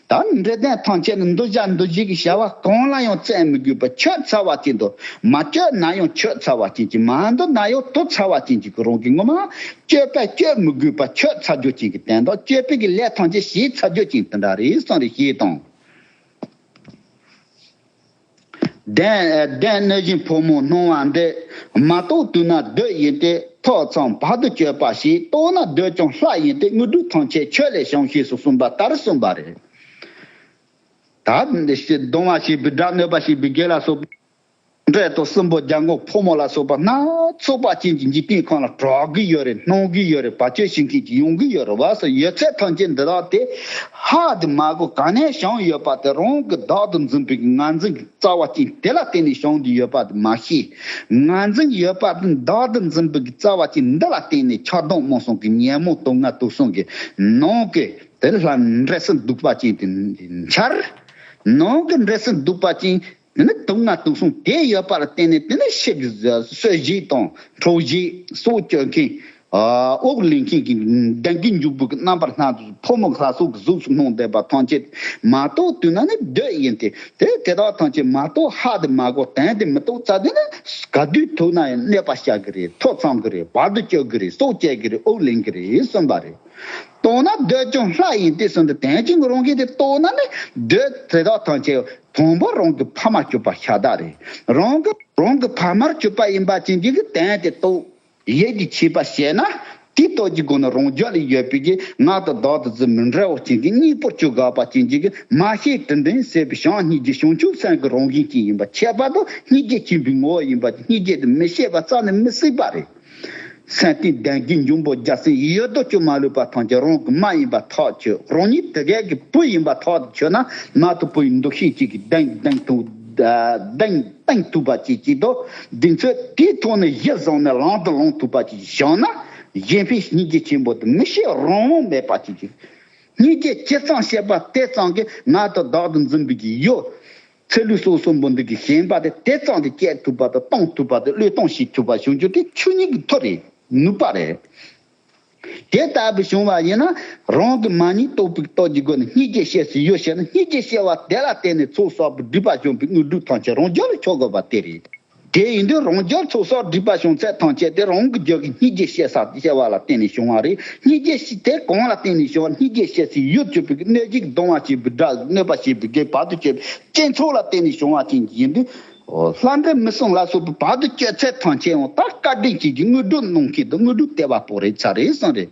དང་འབྲས་ལྡན་ཐང་ཆེན་ནི་འདུ་བྱ་འདུ་བྱེད་ཀྱི་བྱ་བ་གང་ལ་ཡང་བཙལ་མི་དགོས་པར་ཁྱོད་ཚ་བ་ཅན་དུ་མ་བསྐྱོད་ན་ཡང་ཁྱོད་ཚ་བ་ཅན་གྱིས་མ་འདུ་ན་ཡང་དུ་ཚ་བ་ཅན་གྱིས་ཀྱི་རང་གི་ངོ་མ་བསྐྱོད་པས་བསྐྱོད་མི་དགོས་པར་ཁྱོད་ཚ་རྒྱུ་ཅན་གྱིས་བསྟན་ཏོ་བསྐྱོད་པས་ཀྱི་ལས་ཐམས་ཅད་བྱས་ཚ་རྒྱུ་ཅན་དེ་འདྲ་རེ་ཟུང་རེ་ཞེས་དང། བདེན་གནས་བཞིན་ཕོ་མོ་སྣང་བ་འདི། མ་རྟོགས་དུས་ན་བདུད་ཡིན་ཏེ་ཐོས་མཚམས་བར་དུ་གཅོད་པ་ཞིག་རྟོགས་ན་བདུད་ཀྱང་ལྷ་ཡིན་ཏེ་དངོས་གྲུབ་ཐམས་ཅད་ཁྱོད་ལས་བྱུང་ཞེས་སུ་གསུངས་པ་ལྟར་གསུངས་པ་རེད། གདུང་བ་ཞེས་པའི་སྒྲ་གནོད་པ་ཞེས་པའི་བརྒྱད་ལ་སོགས་པའི་སྒྲས་དང་གསུམ་པོ་རྒྱལ་འགོང་ཕོ་མོ་ལ་སོགས་པ་སྣ་ཚོགས་པ་ཅན་གྱི་འཇིག་རྟེན་ཁམས་ལ་གྲགས་གིས་ཡོད་རེད་སྣང་གིས་ཡོད་རེད་བ་ཅོལ་བྱེད་མཁན་གྱིས་ཡོང་གིས་ཡོད་རེད་བ་སོགས་ཡོད་ཚད་ཐམས་ཅད་འདི་དག་སྟེ། ཧ་དེ་མ་གོ་ག་ནས་བྱུང་ཡོད་པ་དེ་རང་གི་བདག་ཏུ་འཛིན་པའི་ངར་འཛིན་གྱི་རྩ་བ་ཅན་དེ་ལ་བརྟེན་ནས་བྱུང་འདུག་ཡོད་པ་དེ་མ་ཤེས། ངར་འཛིན་ཡོད་པ་དེ་བདག་ཏུ་འཛིན་པའི་རྩ་བ་ཅན་འདི་ལ་བརྟེན་ནས་ཆགས་སྡང་སྨོན་སོང་གི་ཉོན་མོངས་དུག་ལྔ་དུག་སྲུང་གི་ནང་གི་དེ་ལྷ་འདྲེ་སྲིན་གདུག་པ་ཅན་དེ་འཆར། ནང་གི་འདྲེ་སྲིན་གདུག་པ་ཅན་དེ་ནི་དུག་ལྔ་དུག་གསུམ་དེ་ཡོད་པར་བརྟེན་ནས་དེ་ནི་གཤེགས་གསོལ་བཞི་དང་གྲོགས་བཞི་སྲོག་སྐྱོབ་མཁན། དབུགས་ལེན་མཁན་གྱི་གདན་གྱི་མཇུག་སྦུག་གི་རྣམ་པར་སྣང་དུ་ཕོ་མོ་ལྷ་སོགས་ཀྱི་གཟུགས་སུ་སྣང་བསྡད་པ་ཐམས་ཅད་མ་གཏོགས་དུས་ན་ནི་བདུད་ཡིན་ཏེ། དེ་དེ་དག་ཐམས་ཅད་མ་གཏོགས་ཧ་དེ་མ་གོ་དན་དེ་མི་གཏོགས་ཙག་དེ་ནི་ག་དུས་ཐུག་ན་ཡང་གནས་པ་བྱ་གི་རེད་ཐོ་ཚང་གི་རེད་བར་དུ་གཅོད་གི་རེད་སྲོག་བཅད་གི་རེད་དབུགས་ལེན་གི་རེད་གསུངས་པ་རེད། རྟོགས་ན་འདོད་ཀྱང་ལྷ་ཡིན་ཏེ་གསུངས་ཏེ་དེང་ཅིང་རུང་གིས་དེ་རྟོགས་ན་ནི་འདོད་དེ་དག་ཐམས་ཅད་དང་པོ་རང་གི་ཕ་མར་གྱུར་པ་ཤ་སྟག་རེད། རང་གི་རང་གི་ཕ་མར་གྱུར་པ་ཡིན་པ་ཅན་གྱིས་ཀྱི་དེང་དེ་རྟོགས། ཡིད་ཀྱི་བྱེད་པ་བྱས་ན་དེ་རྟོགས་ཀྱི་སྒོ་ནས་རང་རྒྱུད་ལ་ཡོད་པའི་ཀྱི་ངག་དང་བདག་དང་ཚུལ་མི་འདྲ་བ་ཅན་གྱི་གཉིས་པོར་བཅུ་དགག་པ་ཅན་གྱིས་ཀྱི་མ་ཤེས་དྲི་འདོན་བྱེད་པའི་བྱང་སྙིགས་ཀྱི་བྱང་ཆུབ་སེམས་ཀྱི་རང་བཞིན་ཅན་ཡིན་པ་ཁྱད་པར་དུ་སྙིགས་ཀྱི་ཁྱིམ་པའི་ངོ་བོ་ཡིན་པ་ཅན་སྙིགས་བརྒྱད་དུ་མི་ཤེས་པ་རྩ་ནས་མི་སྲིད་པ་རེད། སེམས་གཏིང་ལྡན་གྱི་འབྱུང་པོ་རྒྱ་སེང་ཡུལ་རྡོ་བཅུ་མ་ལུས་པ་ཐམས་ཅད་རང་གི་མ་ཡིན་པར་ཐག་ཆོད་རང་ཉིད་དེ་གའི་གི་བུ་ཡིན་པར་ཐག་ཆོད་ན་མ་ཐུབ་བུ་ཡི་འདུ་ཤེས་ཅིག་གིས་གདེང་གདེང་ཐུག་གདེང་གདེང་ཐུབ་པ་ཅིག་བྱེད་དོ། དེ་ཚོས་དེའི་ཐོག་ནས་གཞི་བཟུང་ནས་ལངས་དང་ལོངས་ཐུབ་པ་ཅིག་བཞག་ན། གཞན་ཕན་གཉིས་ཀྱི་ཆེན་པོ་དང་མི་ཤེས་རང་དབང་མེད་པ་ཅིག་གིས། གཉིས་ཀས་ཇི་ཙམ་བཤད་པ་དེ་ཙམ་གྱིས་ང་དང་བདག་ཏུ་འཛིན་པའི་གི་ཡོད། ཚེ་ལུས་སྲོག་གསུམ་པོ་འདི་གི་ཞེན་པ་དེ་དེ་གཙང་དུ་བསྐྱེད་ཐུབ་པ་དང་གཏོང་ཐུབ་པ་དེ་བློས་གཏོང་བྱེད་ཐུབ་པ་བྱུང་རྒྱུ་དེ་ཆོས་ཉིད་ཀྱི་ཐོག་རེད་ནུས་པ་རེད། དེ་ལྟ་བུ་བྱུང་བ་ཡིན་ན་རང་གི་མ་ཉིད་རྟོགས་པའི་རྟོགས་ཀྱི་སྒོ་ནས་གཉིས་ཀྱི་བཤད་སྲོལ་ཡོད་ཤེས་ན་གཉིས་ཀྱི་བཤད་བ་དེ་ལ་བརྟེན་ནས་ཚོགས་གསག་པའི་སྒྲིབ་པ་སྦྱོང་པའི་དངོས་གྲུབ་ཐམས་ཅད་རང་རྒྱུད་ལ་འཁྱོལ་དགོས་པ་དེ་རེད། དེ་ཡིན་དུས་རང་རྒྱལ་ཚོ་སྲོག་སྒྲིག་པ་བྱུང་ཚད་དང་བཅས་ཏེ་རང་གི་རྒྱལ་ཁའི་སྙི་རྗེ་བཤད་ས་ཞེས་བྱ་བ་ལ་བརྟེན་ནས་བྱུང་བ་རེད་སྙི་རྗེ་དེ་གང་ལ་བརྟེན་ནས་བྱུང་བ་སྙི་རྗེ་བཤད་སའི་ཡུལ་གཅིག་པུའི་གནོད་བྱེད་ཀྱི་གདོང་བ་ཞེས་པའི་སྒྲ་གནོད་པ་ཞེས་པའི་སྒྲའི་བར་དུ་གཅོད་པའི་སྤྱི་ཚོགས་ལ་བརྟེན་ནས་བྱུང་བ་ཅན་ཡིན་དུས། ལྷ་འདྲེ་མི་སྲུང་ལ་སོགས་པའི་བར་དུ་གཅོད་ཚད་དང་བཅས་ཡང་དག་བཀའ་དྲིན་ཅན་གྱི་དངོས་གྲུབ་གནང་མཁན་དུ་དངོས་གྲུབ་སྟེར་བ་པོ་རེད་ཚ་རེད་གསང་རེད།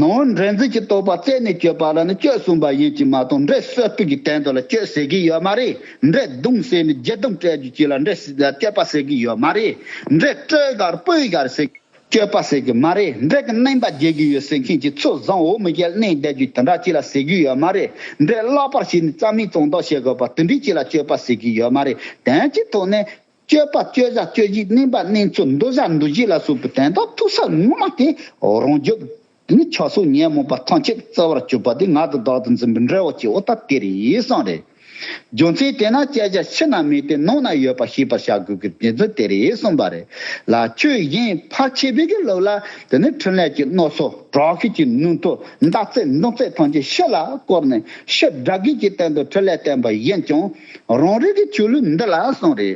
ནོ། འགྲན་རྩོད་ཀྱི་རྟོག་པ་རྩད་ནས་གཅོད་པ་ལ་ནི་གཅོད་གསུངས་པ་ཡིན་གྱི་མ་གཏོགས་འགྲན་རྩོད་དྲུག་གི་སྟེང་དུ་ལ་གཅོད་ཟེར་གྱི་ཡོད་མ་རེད། འགྲན་བརྡུང་ཟེར་ནས་སྦྱི་བརྡུང་སྤྲད་རྒྱུ་གཅིག་ལ་འགྲན་གཅོད་པ་ཟེར་གྱི་ཡོད་མ་རེད། འགྲན་སྤྲོད་གར་སྤོད་གར་ཟེར་གཅོད་པ་ཟེར་གྱི་མ་རེད། འགྲན་གྱི་གནན་པ་འགྱེལ་གྱི་ཡོད་ཟེར་མཁན་གྱི་ཚོ་བཟང་འོ་མི་རྒྱལ་གནས་བསྡད་རྒྱུ་དེ་འདྲ་གཅིག་ལ་ཟེར་གྱི་ཡོད་མ་རེད། འགྲན་བརླག་པར་བྱས་ནས་རྩ་མེད་བཙོང་དོགས་བྱེད་དགོས་པ་དེ་འདྲའི་གཅིག་ལ་གཅོད་པ་ཟེར་གྱི་ཡོད་མ་རེད། དོན་གྱི་ཐོག་ནས། སྤྱོད་པ་སྤྱོད་བྱ་སྤྱོད་བཞི་བསྣན་པ་བསྣན་ཚུལ་འདུ་བྱ་འདུ་བྱེད་ལ་སོགས་པའི་དོན་དང་ཐུག་ས་ངོ་མ་སྟེ་རང་རྒྱུད། དེ་ནི་ཆོས་སོགས་ཉོན་མོངས་པ་ཐམས་ཅད་རྩོལ་བར་གྱུར་པ་དེ་ངག་དང་བདག་ཏུ་འཛིན་པའི་འབྲས་བུ་སྐྱེ་བོ་ཐ་དད་རེ་ཟུང་རེད། རྒྱུ་མཚན་དེས་ན་དཔྱད་བྱ་ཕྱི་ན་མེད་དེ་ནང་ན་ཡོད་པ་ཤེས་པར་བྱ་དགོས་ཀྱི་དེ་ཚོ་དེ་རེད་གསུངས་པ་རེད་ལ་ཆོས་གཞན་ཕར་ཕྱིན་བོད་ཀྱི་ལུགས་ལ་དེ་ནི་འཕྲིན་ལས་ཀྱི་རྣོ་སོ་དྲག་ཤོས་ཀྱི་ནུས་མཐུ་ཟླ་ཚེས་འདོན་ཚད་ཐམས་ཅད་ཕྱི་ལ་བསྐོར་ནས་ཕྱིར་དགྲ་བགེགས་ཀྱི་སྟེང་དུ་འཕྲིན་ལས་བསྟན་པ་བཞིན་ཀྱང། རང་རིག་གི་ཆོས་ལུགས་འདི་ལ་གསུངས། རེ་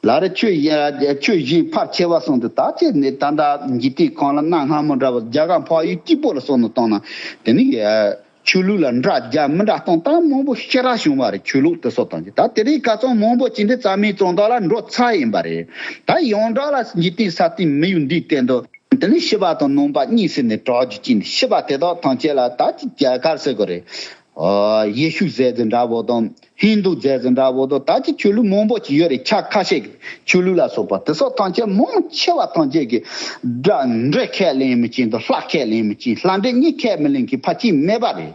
ལ་རེ་ཆོས་བཞིན་ཕར་ཕྱེ་བ་གསུངས་འདུག་དག་བྱེད་ནི་ད་ལྟ་འཇིག་རྟེན་གང་ལ་གནའ་སྔ་མོ་འདྲ་བར་རྒྱ་གར་འཕགས་ཡུལ་སྐྱིད་པོ་ལ་སོགས་ནས་བཏང་ན་དེ་ནི་ཆོས་ལུགས་ལ་འདྲ་རྒྱ་མི་འདྲ་སྟོང་སྟངས་མང་པོ་ཤེས་རག་བྱུང་བ་རེད་ཆོས་ལུགས་དེ་སོགས་དང་ཅི་ད་དེ་རིགས་ག་ཙོང་མང་པོ་ཅི་འདྲའི་རྩ་མེད་ཙོང་དག་ལ་འགྲོ་ཚ་ཡིན་པ་རེད་ད་ཡོངས་གྲགས་ལ་འཇིག་རྟེན་ས་སྟེང་མི་ཡུལ་འདིའི་སྟེང་དུ་དེ་ནི་ཤི་བ་དང་ནོངས་པ་གཉིས་ཟེར་ནས་གྲགས་རྒྱུ་གཅིག་འདུག་ཤི་བ་དེ་དག་ཐམས་ཅད་ལ་ད་ཅི་རྒྱ་གར་ཟེར་དགོས་རེད། ཡེ་ཤུ་ཟས་འཛིན་འདྲ་བོ་དང་ཧིན་དུ་ཟས་འཛིན་འདྲ་བོ་དང་ད་ཅི་ཆོས་ལུགས་མང་བོ་ཅི་ཡོད་རེད་ཆ་ཁ་ཤས་ཀྱི་ཆོས་ལུགས་ལ་སོགས་པ་དེ་སོགས་ཐམས་ཅད་མང་ཆེ་བ་ཐམས་ཅད་ཀྱི་སྒྲ་འབྲེལ་ཁས་ལེན་མི་བྱེད་དོ་ལྷ་ཁས་ལེན་མི་བྱེད་ལྷ་འདྲེ་གཉིས་ཁས་མི་ལེན་གྱི་ཕ་གཅིག་སྨྲས་པ་རེད།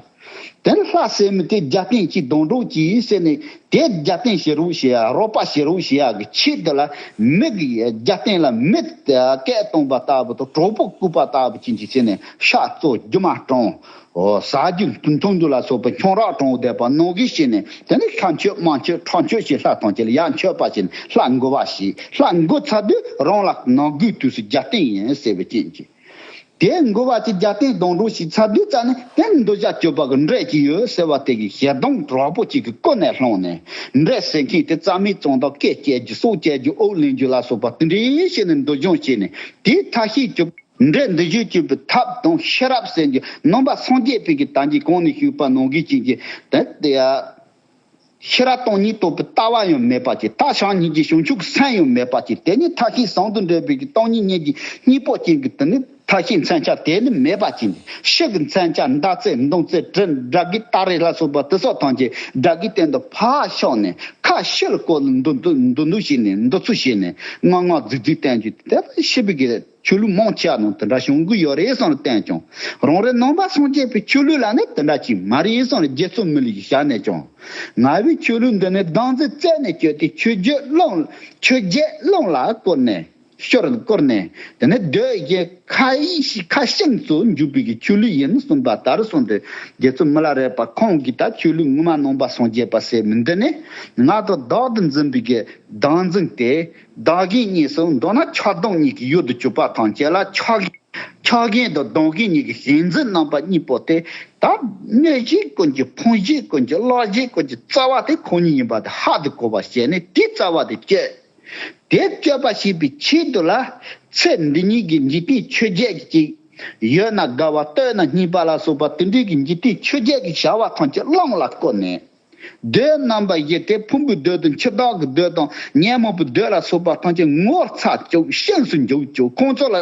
དེ་ནི་ལྷ་ཟེར་མི་དེ་རྒྱ་སྟེང་གཅིག་གདོང་གྲོགས་གཅིག་ཟེར་ནས་དེ་རྒྱ་སྟེང་བྱེད་རོགས་བྱེད་ཡ་རོགས་པ་བྱེད་རོགས་བྱེད་ཡ་གི་ཆེད་དུ་ལ་མི་གི་རྒྱ་སྟེང་ལ་མི་སྐད་གཏོང་པ་ལྟ་བུ་དང་གྲོགས་པོ་བརྐུ་བ་ལྟ་བུ་བྱིན་གྱིས་བརྩེ་ནས་ཤ་བཙོ་རྒྱུ་མ་བཀྲོངས་ཟ་རྒྱུ། འཐུང་རྒྱུ་ལ་སོགས་པའི་ཁྱུང་རགས་གྲོང་བརྡལ་པ་ནོར་གིས་བྱས་ནས་དེ་ནི་ལྷ་མཆོད་དམངས་མཆོད་ཁྲག་མཆོད་ཞེས་ལྷ་དང་བཅས་ལ་ཡང་མཆོད་པ་བྱས་ནས་ལྷ་མགུ་བ་བྱས། ལྷ་མགུ་ཚར་དུས་རང་ལ་ནང་སྒོའི་དུས་སུ་རྒྱལ་བསྟན་ཡིན་ཟེར་བའི་རྐྱེན་གྱིས། དེའི་མགུ་བ་གྱིས་རྒྱལ་བསྟན་སྡོང་གྲོགས་ཤིག་ཚར་དུས་བཙལ་ནས་དེ་ནི་འདོད་ཆགས་སྤྱོད་པ་གི་འབྲས་ཤིག་ཡོད་ཟེར་བ་དེ་གིས་ཞལ་གདངས་དྲག་པོ་གཅིག་གི་ཀུན་ནས་ལྷུང་ནས། འབྲས་ཟེར་མཁན་དེ་རྩ་མེད་བཙོང་དང་སྐེ་བཅད་རྒྱུ་སྲོག་བཅད་རྒྱུ་ཨོག་ལེན་རྒྱུ་ལ་སོགས་པ་འདི་འདྲའི་བྱས་ནས་འདོད་སྦྱོང་བྱས་ནས་དེའི་མཐའ་ཤེས་བྱོས། འབྲས་འདི་བཞི་སྤྱོད་པའི་ཐབས་དང་ཤེས་རབ་གསལ་རྒྱུ་ནོམ་པ་སངས་རྒྱས་ཕིག་གི་དང་གིས་གང་ནས་ཞུགས་པ་ནང་གི་བྱིན་གྱིས་བརླབས་ཏེ། ཤེས་རབ་སྟོང་ཉིད་རྟོགས་པའི་ལྟ་བ་ཡང་མེད་པར་གྱིས་ཐག་ཆང་ཉིད་ཀྱི་བྱང་ཆུབ་སེམས་ཡང་མེད་པར་གྱིས་དེ་ནི་མཐའ་ཤེས་བཟང་དུ་འདྲེས་པའི་གི་སྟོང་ཉིད་གཉིས་ཀྱི་གཉིས་པོ་ཅན་གྱི་དེ་ནི་མཐའ་ཤེས་མཚན་བྱ་དེ་ནི་མེད་པར་གྱིས་ནི་ཤེས་ཀྱི་མཚན་བྱ་མདའ་རྩེ་མདུང་རྩེ་དྲིལ་བསྒྲགས་ཀྱི་སྟ་རེ་ལ་སོགས་པ་དེ་སོགས་ཐམས་ཅད་དགྲ་བགེགས་སྟེང་དུ་ཕ་ཤོག་ནས་ཁ་ཤེལ་བཀོལ་ལ་འདུ་འདུ་འདུ་འདུ་བྱས་ནས་འདུ་ཚུལ་བྱས་ནས་ངག་ངག་རྫིག་རྫིག་བསྟན་བཅོས་དེ་ལྟར་ཤེས་པའི་གི། ཆོས་ལུགས་མང་ཆེ་བ་ནང་དེ་འདྲ་བྱུང་གི་ཡོད་རེད་བསམ་བློ་བསྟན་ཀྱང། རང་རེ་ནང་པ་སངས་རྒྱས་པའི་ཆོས་ལུགས་ལ་ནི་དེ་འདྲ་ཅིག་མ་རེད་བསམ་ལ་རྒྱལ་ཚོགས་མི་ལུས་ཀྱི་ཞབས་ནས་ཀྱང། ང་བོའི་ཆོས་ལུགས་འདི་ནི་སྡང་རྫས་རྩད་ནས་གཅོད་དེ་ཆོས་རྒྱལ་བློན་ཆོས་རྒྱལ་བློན་ལ་བསྐོར་ནས། ཤོར་བསྐོར་ནས་དེ་ནི་སྡོད་རྒྱལ་ཁ་ཡིག་ཁ་ཤིང་ཚོ་འཇུག་པའི་གི་ཆོས་ལུགས་ཡིན་གསུངས་པ་ལྟར་གསུངས་དེ་རྒྱལ་ཚོགས་མི་ལ་རས་པ་ཁོང་གིས་ད་ཆོས་ལུགས་ངོ་མ་ནང་པ་སངས་རྒྱས་པ་ཟེར་མི་འདི་ནི་ང་དང་བདག་ཏུ་འཛིན་པའི་གི་སྡང་འཛིན་དེ་བདག་རྐྱེན་གཉིས་སུ་འདོད་ན་ཆགས་སྡང་གཉིས་ཀྱི་ཡུལ་དུ་གྱུར་པ་དང་བཅས་ལ་ཆགས་རྐྱེན་ཆགས་རྐྱེན་དང་སྡང་རྐྱེན་གཉིས་ཀྱི་ཞེན་འཛིན་རྣམ་པ་གཉིས་པོ་དེ་དག་གནོད་བྱེད་ཀུན་གྱི་ཕོངས་བྱེད་ཀུན་གྱི་བརླག་བྱེད་ཀུན་གྱི་རྩ་བ་དེ་ཁོ་ཉིད་ཡིན་པ་དེ་ཧ་དུ་གོ་བར་བྱས་ནས་དེའི་རྩ་བ་དེ་གཅོད། དེ་གཅོད་པར་བྱེད་པའི་ཆེད་དུ་ལ། ཚེ་འདི་ཉིད་ཀྱི་འཇིག་རྟེན་ཆོས་བརྒྱད་ཀྱི་གཅིག། ཡོད་ན་དགའ་བ་སྟོད་ན་སྙིགས་པ་ལ་སོགས་པ་དེ་འདྲའི་གྱི་འཇིག་རྟེན་ཆོས་བརྒྱད་ཀྱི་བྱ་བ་ཐམས་ཅད་བླངས་ལ་བཀོད་ནས། མདོའི་རྣམ་པ་བཞི་སྟེ་ཕུང་པོའི་མདོ་དང་འཆི་བདག་གི་མདོ་དང་ཉོན་མོངས་པའི་མདོ་ལ་སོགས་པ་ཐམས་ཅད་ངོ་ཚ་བཅུག་ཤིན་སུ་འཇུག་བཅུག་ཁོང་ཚོ་ལ།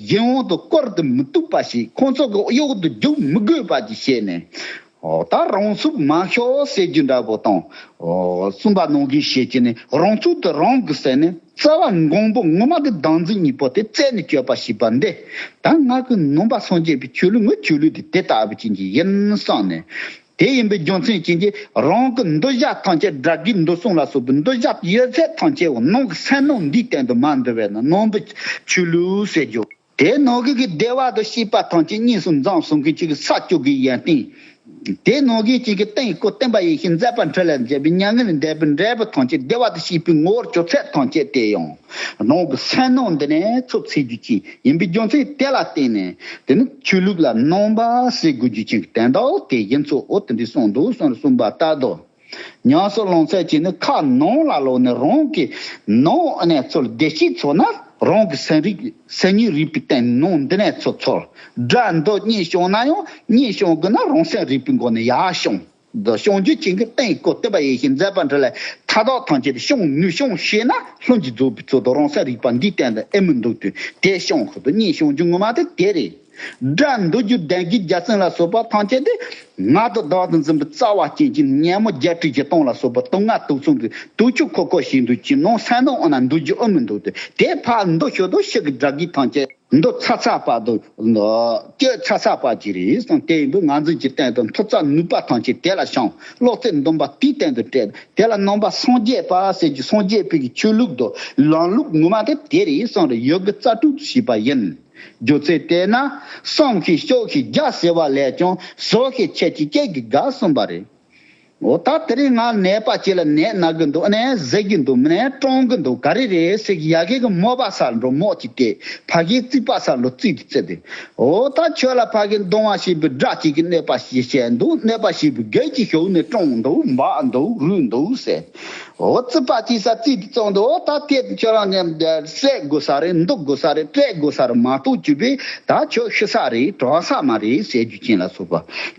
ཡིད་འོང་དུ་བསྐོར་དུ་མི་བཏུབ་པ་ཞིག་ཁོང་ཚོ་གི་གཡོག་ཏུ་རྒྱུག་མི་དགོས་པ་ཅིག་བྱས་ནས། ད་རང་ཚུགས་མ་ཤོག་ཟེར་རྒྱུ་འདྲ་བོ་དང། སུན་པ་གནང་གིན་ཞེས་བྱས་ནས་རང་ཚུགས་དེ་རང་གིས་བསད་ནས་རྩ་བ་འགོང་པོ་ངོ་མ་གི་སྡང་འཛིན་གཉིས་པོ་དེ་རྩད་ནས་གཅོད་པ་ཞིག་པ་འདི་ད་ང་གི་ནོམ་པ་སངས་རྒྱས་པའི་ཆོས་ལུགས་ངོས་ཆོས་ལུགས་དེ་དེ་ལྟ་བུ་ཅན་གྱི་ཡིན་བསམས་ནས། དེ་ཡིན་པའི་རྒྱུ་མཚན་བྱིན་གྱིས་རང་གི་མདོ་བཞག་ཐང་ཆད་དགྲ་བགེགས་འདུལ་གསུང་ལ་སོགས་པའི་མདོ་བཞག་ཡོད་ཚད་ཐང་ཆད་འོག་ནང་གི་སེམས་ནང་འདིའི་སྟེང་དུ་མ་འདུལ་བས་ན་ནང་པའི་ཆོས་ལུགས་ཟེར་རྒྱུ། དེ་ནང་བགེགས་ཀྱི་བདེ་བ་དང་ཤེས་པ་ཐང་ཆད་གཉིས་སུ་འཛངས་གསུང་མཁན་གཅིག་གི་ས་བཅུ་གའི་ཡན་སྟེང། དེ་ནང་བགེགས་གཅིག་གི་སྟེང་སྐུ་བསྟན་པ་ཡེ་ཤེས་མཛད་པ་འཕྲིན་ལས་མཛད་པའི་མྱ་ངན་ལས་འདས་པའི་འབྲས་བུ་ཐང་ཆད་བདེ་བ་དང་ཤེས་པའི་ངོ་བོར་གྱུར་ཚད་ཐང་ཆད་དེ་ཡང། ནང་གི་སེར་སྣ་འདི་ནས་འཚོབ་ཚེ་རྒྱུ་རྐྱེན་ཡིན་པའི་རྒྱུ་མཚན་དེ་ལ་བརྟེན་ནས་དེ་ནི་ཆོས་ལུགས་ལ་སྣང་བ་སེལ་དགོས་རྒྱུ་ཅན་གྱི་དན་རྟགས་དེ་ཡིན་གཙོ་བོ་དེ་འདྲའི་གསུང་འདུག་གསུང་རུ་གསུངས་པ་ལྟར་དུ། ཉང་སོག་ལོང་ཚད་ཅིག་ནི་ཁ་ནང་ལ་ལོག་ནས་རང་གི་ནང་ནས་ཚོར་བདེ་སྐྱིད་ཚོར་ན་རང་གི་སེམས་རིག་སེམས་ཉིད་རིག་པའི་དན་སྣང་འདི་ནས་ཚོར་ཚོར་སྒྲ་འདི་གཉིས་བྱུང་ན་ཡང་གཉིས་བྱུང་དགོས་ན་རང་སེམས་རིག་པའི་སྒོ་ནས་ཡར་བྱུང། རྫོགས་བྱང་རྒྱུད་ཅན་གྱི་སྟེང་སྐུ་བསྟན་པ་ཡེ་ཤེས་མཛད་པ་འདི་ལས་མཐའ་དག་ཐམས་ཅད་ཤོང་ནུས་ཤོང་ཤེས་ན་ལྷུན་གྱིས་རྫོགས་པའི་ཚུལ་དུ་རང་སེམས་རིག་པ་འདིའི་སྟེང་དུ་ཨེ་མི་འདུག་དུས་དེ་ཤོང་ཁུལ་དུ་གཉིས་ཤོང་རྒྱུ་ངོ་མ་དེ་དེ་རེད། སྒྲ་འདོད་རྒྱུ་ལྡན་གྱི་རྒྱ་ཚིག་ལ་སོགས་པ་ཐམས་ཅད་དེ་ངག་ཏུ་བདག་ཏུ་འཛིན་པའི་རྩ་བ་ཅན་གྱི་སྙན་མོ་བརྒྱད་ཁྲི་བཞི་སྟོང་ལ་སོགས་པ་དུག་ལྔ་དུག་མཚུངས་ཀྱི་དུག་ཆུ་ཁོག་ཁོག་བཞིན་དུ་ཅི་ནང་སེམས་ནང་འོ་ན་འདུག་རྒྱུ་ཨེ་མི་འདུག་དུས་དེ་ཕར་འདུག་ཞོར་དུ་ཕྱི་གི་སྒྲ་སྒིག་ཐམས་ཅད། མདོ་ཚ་ཚ་བ་དང། སྐྱོད་ཚ་ཚ་བ་གྱིས་རེས་དང་དེ་ཡིན་པས་ངང་ཚུལ་གྱི་སྟེང་དུ་མཐོ་ཚད་ནུས་པ་ཐམས་ཅད་དེ་ལ་བྱང། ལོག་ཚད་འདོམས་པ་དེའི་སྟེང་དུ་བསྐྲད། དེ་ལ་སྣང་བ་སངས་རྒྱས་པ་གསེར་གྱི་སངས་རྒྱས་པོད་ཀྱི་ཆོས་ལུགས་དང་ལམ་ལུགས་ངོ་མ་དེ་དེ་རེས་སམ་རེས་ཡོད་ཀྱི་རྩ་དྲུག་ཏུ་ཞུགས་པ་ཡིན། སྒྱུ་རྩལ་བལྟས་ན། བསམ་ཤེས་ཤོག་ཤེས་རྒྱ་ཟེར་བ་ལས་ཀྱང་བཟོ་ཤེས་འཆད་ཤེས་སྐད་ཀྱི་དགའ་གསུམ་པ་རེད། འོ་ད་དེ་རིང་ང་ནད་པ་ཅིག་ལ་ནད་ན་གི་འདུག་ནས་བཟས་ཀྱི་འདུག་མིན་ནས་བཀྲོངས་གི་འདུག་ག་རེ་རེད་ཟེར་གི་ཡ་གི་གི་མོ་བ་ས་འགྲོ་མོག་ཅིག་དེས་ཕ་གིའི་རྩིག་པ་ས་ལོ་རྩིག་གི་རྩེ་དེ། འོ་ད་ཁྱོད་ལ་ཕ་གིས་མདོང་བ་ཞིག་བུ་སྒྲ་གཅིག་གིས་ནད་པ་ཞིག་བྱས་འདུག་ནད་པ་ཞིག་བུ་སྒལ་གྱིས་ཞོག་ནས་བཀྲོངས་གི་འདུག་འབག་གི་འདུག་རུལ་གི་འདུག་ཟེར། འོ་རྩིག་པ་ཅིག་ས་རྩིག་གི་བཙོང་འདུག་འོ་ད་དེ་ཁྱོད་རང་ནས་བསད་དགོས་ས་རེད་འདུག་དགོས་ས་རེད་སྤྲད་དགོས་ས་རེད་མ་གཏོགས་གྱུར་པས་ད་ཁྱོད་ཤི་ས་རེད་གྲོངས་ས་མ་རེད་ཟེར་རྒྱུ་ཅན་ལ་སོགས་པ་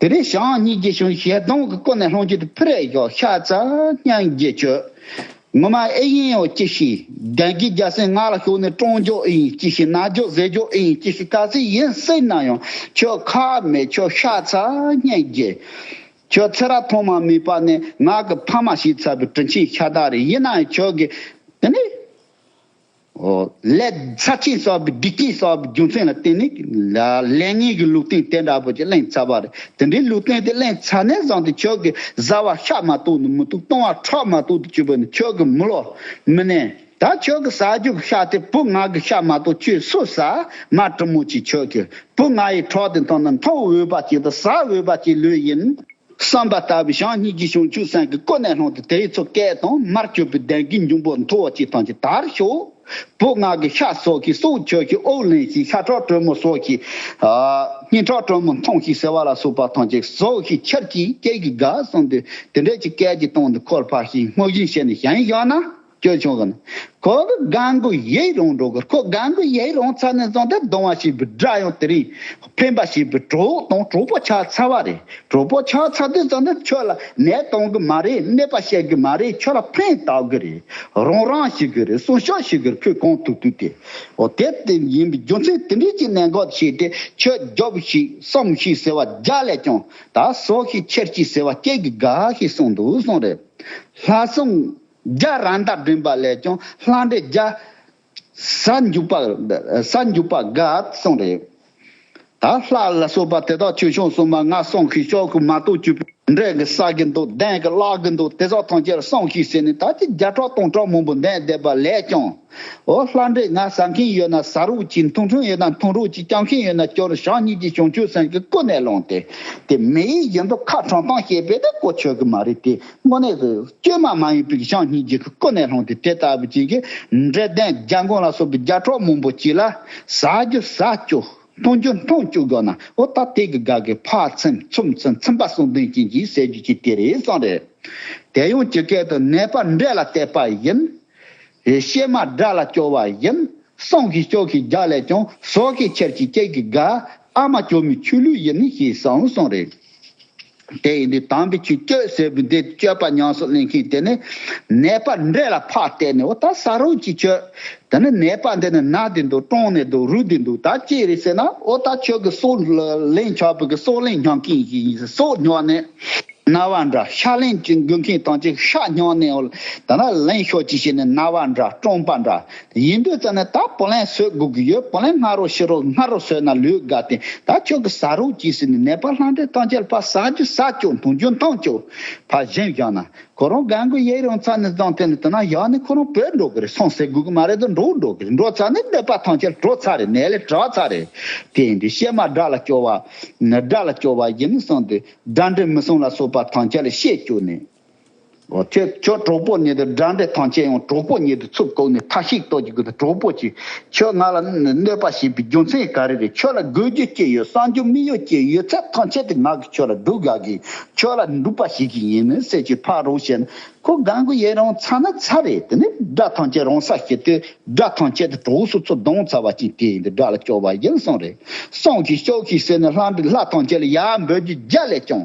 དེ་རིང་ཞང་གཉིས་རྒྱལ་གཞུང་ཞལ་གདོང་གི་སྐོར་ནས་ལྷོ་རྒྱུད་དུ་ཕུ་རེ་གཡོག་ཤ་ཚ་སྙན་རྒྱས་བྱོས། ངོ་མ་ཨེ་ཡིན་ཨོ་ཅི་ཤི། རྒྱན་གྱི་རྒྱ་སེ་ངག་ལ་ཞོག་ནས་ཀྲོང་རྒྱོག་ཨེ་ཡིན་ཅི་ཤི་རྣ་རྒྱོག་གཟེར་རྒྱོག་ཨེ་ཡིན་ཅི་ཤི་ག་ཚིག་ཡིན་སེ་ན་ཡང་ཁྱོད་ཁ་མེད་ཁྱོད་ཤ་ཚ་སྙན་རྒྱས། ཁྱོད་ཚེ་ར་ཐོག་མ་མིད་པ་ནས་ངག་གི་ཕ་མ་ཞིག་ཚ་བའི་དྲིན་ཆེན་ཤ་སྟག་རེ་ཡིན་ན་ཡང་ཁྱོད་ཀྱི་དེ་ནི། ལས། ཚབས་ཆེན་གསར་བུའི་སྒྲིག་ཆས་གསར་བུའི་རྒྱུ་མཚན་ལ་བརྟེན་ནས། ལས་ངན་གྱི་ལུགས་བསྟན་དེ་འདྲ་བོ་ཅིག་གླེང་ཚར་བ་རེད། དེ་འདྲའི་ལུགས་བསྟན་དེ་གླེང་ཚར་ནས་བཟང་སྟེ་ཁྱོད་ཀྱི་བཟའ་བ་ཤ་མ་གཏོགས་ནི་མི་བཏུག་བཏུང་བ་ཁྲག་མ་གཏོགས་དུ་སྤྱོད་པ་ནི་ཁྱོད་ཀྱི་མི་བློ་མི་གནས། ད་ཁྱོད་ཀྱི་ཟ་རྒྱུ་གི་ཤ་དེ་བུ་ང་གི་ཤ་མ་གཏོགས་ཁྱོད་སུ་ཟ། མ་དྲིན་མོ་ཅིག་ཁྱོད་ཀྱིས་བུ་ང་ཡི་ཁྲག་དེ་འཐུང་ན་འཐུང་འོས་པ་ཅིག་དང་ཟ་འོས་པ་ཅིག་ལོས་ཡིན། བསམ་པ་ལྟ་བུའི་ཞང་གཉིས་ཀྱི་ཞིང་ཆུ་སྲན་གྱི་ཀོ་ནས་སློང་སྟེ་དེའི་ཚོ་སྐལ་དང་མར་བཅོས་པའི་གདན་གྱི་འབྱུང་པོ་མཐོ་བ་ཅིག་དང་ཅི་ལྟར་ཤོག། བུ་སྔགས་ཀྱི་ཤ་སོགས་ཀྱིས་སྲོག་ཆོད་ཅིག་ཨོག་ལེན་ཞིག་ཤ་ཁྲག་དྲོན་མོ་སོགས་ཀྱིས། སྙིང་ཁྲག་དྲོན་མོ་འཐུང་ཞིག་ཟེར་བ་ལ་སོགས་པ་དང་ཅིག་ཟོག་ཞིག་ཁྱེར་ཅིག་སྐྱེས་ཀྱི་དགའ་གསུངས་ཏེ་དེ་འདྲ་ཅིག་སྐལ་གྱི་སྟོང་དུ་འཁོར་འཕགས་ཤིང་སྔོ་བཞིན་བྱས་ནས་ཞིང་བཞག་ན། སྐྱོ་ཆུང་གི་ན། ཁོ་གི་དགའ་མགུ་ཡིད་རང་གྲོགས་གི་ཁོ་དགའ་མགུ་ཡིད་རང་ཚ་ནས་བཟུང་སྟེ་སྡོང་བ་ཞིག་བུད་སྒྲ་ཡང་དེ་རིང་འཕེན་པ་ཞིག་བུད་གྲོགས་དང་གྲོགས་པོ་ཆགས་ཚར་བ་རེད་གྲོགས་པོ་ཆགས་ཚར་དུས་བཟང་ན་ཁྱོད་ལ་ནད་གཏོང་གི་མ་རེད་ནད་པ་བཤད་གི་མ་རེད་ཁྱོད་ལ་ཕན་བཏགས་གི་རེད་རང་རང་ཞིག་གི་རེད་གསུང་ཤོག་ཞིག་གི་ཁོས་གང་ཐུག་ཐུག་དེ། འོ་དེ་དེ་ཡིན་པའི་རྒྱུ་མཚན་དེ་འདྲས་ཀྱི་ནད་འགོག་བྱས་ཏེ་ཁྱོད་རྒྱོབས་ཤིག་སོམས་ཤིག་ཟེར་བ་རྒྱ་ལས་ཀྱང་ད་གསོ་ཤིག་ཁྱེར་ཅིག་ཟེར་བ་སྐྱེས་ཀྱི་དགའ་ཤིག་གསུངས་འདུག་གསུངས་རེད། ལྷ་སྲུང། རྒྱ་རང་དག་བསྒྲིམས་པ་ལས་ཀྱང་བསླངས་འབྲས་རྒྱ། ས་འཇུག་པ་ས་འཇུག་པ་འགའ་གསུངས་རེ། ད་ལྷ་ལ་སོགས་པ་དེ་དག་ཆོས་སྐྱོང་སྲུང་མ་ལྔ་གསུངས་ཤིག་ཤོག་གུ་མ་གཏོགས་བཅུ་པོ་འབྲས་ཀྱི་བསགས་ཀྱི་འདུག་གདན་གྱི་བཀླག་གི་འདུག་དེ་དག་ཐམས་ཅད་གསུངས་ཤིག་ཟེར་ནས་ད་ཅི་བརྒྱ་ཕྲག་སྟོང་ཕྲག་མང་པོ་འདན་བསྡད་པ་ལས་ཀྱང། འོ་ལྷ་འབྲས་ལྔ་བཟའ་མཁན་ཡོད་ན་བཟའ་རོགས་ཅིག་འཐུང་ཆུང་ཡོད་ན་འཐུང་རོགས་ཅིག་སྐྱབས་མཁན་ཡོད་ན་སྐྱབས་རོགས་ཞག་གཉིས་ཀྱི་བྱང་ཆུབ་སེམས་ཀྱི་སྐུ་ནས་ལངས་ཏེ། དེ་མི་ཡི་ཡིན་འདུག་ཁ་དྲང་ཐང་ཤེས་པས་དེ་གོ་ཆོད་ཀྱི་མ་རེད་དེ་དངོས་གནས་སུ་བཅོས་མ་མ་ཡིན་པའི་ཞང་གཉིས་ཀྱི་སྐུ་ནས་ལྷུང་སྟེ་དེ་ལྟ་བུ་ཅན་གྱི་འབྲས་ལྡན་རྒྱ་མགོན་ལ་སོགས་པའི་རྒྱ་ཕྲོག་མང་པོ་བྱས་ལ། ཟ་རྒྱུ་ཟ་བཅུག་འཐུང་རྒྱུ་འཐུང་བཅུག་གོ་ན་འོ་ད་དེ་གི་དགའ་གི་ཕ་ཚེམ་ཚུམ་ཚེམ་ཚིམ་པ་གསུང་དོན་ཅན་གྱིས་ཟེར་རྒྱུ་གཅིག་དེ་རེད་གསུང་རེད། དེ་ཡང་ཇི་སྐད་དུ་ནད་པ་འབྲས་ལ་བལྟས་པ་བཞིན། གཤེད་མ་དགྲ་ལ་སྐྱོ་བ་བཞིན། སྲང་གི་སྐྱོ་གི་རྒྱ་ལས་ཀྱང་ཟོག་གི་ཁྱེར་གྱི་སྐྱེས་ཀྱི་དགའ། ཨ་མ་སྐྱོ་མོའི་ཆུ་ལུད་བཞིན་ཞེས་གསུང་གསུང་རེད། དེ་ཡིས་འདི་དམ་པའི་ཆུ་སྤྱོད་ཟེར་བས་འདི་སྤྱོད་པ་ཉམས་སུ་ལེན་མཁན་དེ་ནི། ནད་པ་འདྲེ་ལ་ཕག་བཏེགས་ནས་འོ་ད་ཟ་རོགས་ཅིག་ཁྱོད། ད་ནི་ནད་པ་འདི་ནི་ན་འདི་འདུག་གྲོང་ནས་འདུག་རུ་འདི་འདུག་ད་ཅི་རེད་ཟེར་ན་འོ་ད་ཁྱོད་ཀྱི་སྲོག་ལེན་ཆགས་པའི་གི་སྲོག་ལེན་སྙམ་མཁན་ཞིག་ཡིན་ཟེར་སྲོག་ཉོག་ནས། ན་བ་འདྲ་ཤ་ལེན་ཅིག་འགུལ་མཁན་དང་ཅིག་ཤ་ཉོག་ནས་འོ་ད་ན་ལེན་ཤོག་ཅིག་བྱས་ནས་ན་བ་འདྲ་གྲོང་པ་འདྲ་ཡིན་དུས་ཙམ་ནས་ད་པོ་ལན་བཟོད་དགོས་ཀྱི་ཡོད་པོ་ལན་སྔ་རོགས་ཕྱི་རོགས་སྔ་རོགས་བཟོད་ན་ལུས་དགའ་སྟེ་ད་ཁྱོད་ཀྱི་ཟ་རོགས་གྱིས་ཟེར་ནས་ནད་པ་ལྷ་འདྲེ་སྟངས་ཆལ་ཕ་ཟ་རྒྱུ་ཟ་ཅོག་འཐུང་རྒྱུ་འཐུང་ཅོག་ཕ་བཞིན་བཞག་ན་ཁོ་རང་རྒན་རྒོན་ཡིད་རང་ཚ་ནས་བརྫངས་བསྟེན་ནས་དེ་ན་བཞག་ནས་ཁོ་རང་བོས་འགྲོ་གི་རེད་སོང་ཟེར་དགོས་ཀྱི་མ་རེད་དོ་འགྲོ་འགྲོ་གི་རེད་འགྲོ་ཚར་ནས་ནད་པ་ཐང་ཆལ་བྲོ་ཚར་རེད་ནད་ལས་དྲག་ཚར་རེད་དེ་ཡིན་དུས་གཤེད་མ་དགྲ་ལ་སྐྱོ་བ། དགྲ་ལ་སྐྱོ་བ་ཡིན་ནི་སོང་དུས་དགྲ་འདྲེ་མི་སོང་ལ་སོགས་པ་ཐང་ཆལ་ལས་ཤེས་བཅུག་ནས། ཁྱོད་ཁྱོད་གྲོགས་པོ་ཉིད་དང་འདྲ་འདྲའི་ཐང་ཆད་ཡོང་གྲོགས་པོ་ཉིད་དུ་ཚུར་བཀུག་ནས་ཐ་ཤིག་ཏོག་གྱིས་བསྒུགས་ཏེ་གྲོགས་པོ་ཅི། ཁྱོད་ང་ལ་གནོད་པ་བྱས་པའི་རྒྱུ་མཚན་ག་རེ་རེད་ཁྱོད་ལ་དགོས་རྒྱུ་ཅི་ཡོད་བསམ་རྒྱུ་མི་ཡོད་ཅི་ཡོད་ཚད་ཐང་ཆད་དེ་ང་གིས་ཁྱོད་ལ་སྡུག་ག་གི་ཁྱོད་ལ་འདུག་པ་ཞིག་གི་ཡིན་མི་སྲིད་ཅི་ཕར་རོགས་བྱས་ན་ཁོ་དགའ་མགུ་ཡེ་རང་ཚ་ན་ཚ་རེད་དེ་ནས་དགྲ་ཐང་ཆད་རང་ས་སྐྱེལ་དུས་དགྲ་ཐང་ཆད་དེ་གྲོགས་སུ་ཚུར་བརྡུང་ཚར་བ་ཅིག་དེ་ཡིན་དུས་དགྲ་ལ་སྐྱོ་བ་ཡིན་སོང་རེད་སོང་ཤིག་ཤོག་ཤིག་ཟེར་ནས་ལྷ་འདྲེ་ལྷ་ཐང་ཆད་ལ་ཡར་འབོད་རྒྱུ་རྒྱ་ལས་ཀྱང་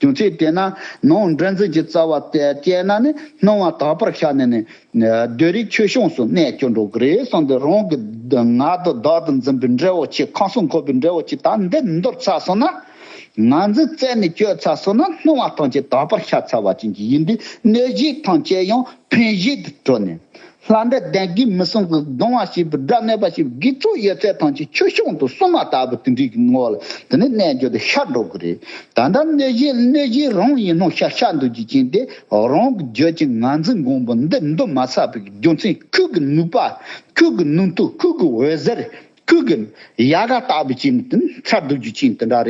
བྱུང་ཚེ་དེ་ན་ནོངས་འདྲེན་རྫས་ཀྱི་རྩ་བ་བཅད་ན་ནི་སྣང་བ་དག་པར་ཤར་ནས་ནི། བདུད་རིགས་ཆོས་སྐྱོངས་སུ་གནས་སྐྱོ་འགྲོ་གི་རེད་གསུངས་ཏེ་རང་གི་ང་དང་བདག་ཏུ་འཛིན་པའི་འདྲེ་བོ་ཆེ་ཁང་གསུམ་འཁོར་བའི་འདྲེ་བོ་ཆེ་དག་འདི་འདོར་ཚར་སོང་ན། ང་འཛིན་རྩད་ནས་གཅོད་ཚར་སོང་ན་སྣང་བ་ཐམས་ཅད་དག་པར་ཤར་ཚར་བ་ཅན་གྱི་ཡིན་པས་གནོད་བྱེད་ཐམས་ཅད་ཡང་ཕན་བཞེད་དུ་གྲོལ་ནས། ལྷ་འདྲེ་གདན་གྱི་མི་སྲུང་གི་གདུང་བ་ཞེས་པའི་སྒྲ་སྨྲས་པ་ཞིག་དགེ་ཚུལ་ཡོད་ཚད་ཐང་ཆེན་ཆོས་སྐྱོང་དུ་སྲུང་མ་ལྟ་བུ་དེ་འདྲའི་ངོ་བོ་ལ་དེ་ནི་རྣལ་འབྱོར་དུ་ཤར་འགྲོ་གི་རེད། ད་ལྟ་གནོད་གཞི་གནོད་གཞི་རང་ཡིན་ནོ་ཤ་ཤ་འདུག་ཅེས་བྱིན་ཏེ་རང་གི་བརྗོད་ཀྱི་ངང་ཚུལ་མགོན་པོ་འདི་འདུག་མ་ཚར་བའི་རྒྱུ་མཚན་ཁྱོད་ཀྱི་ནུས་པ་ཁྱོད་ཀྱི་ནུས་མཐུ་ཁྱོད་ཀྱི་འོད་ཟེར་ཁྱོད་ཀྱི་ཡལ་ག་ལྟ་བུ་བྱས་ནས་དེ་ཚར་འདུག་ཅེས་བྱིན་དེ་འདྲ་རེད།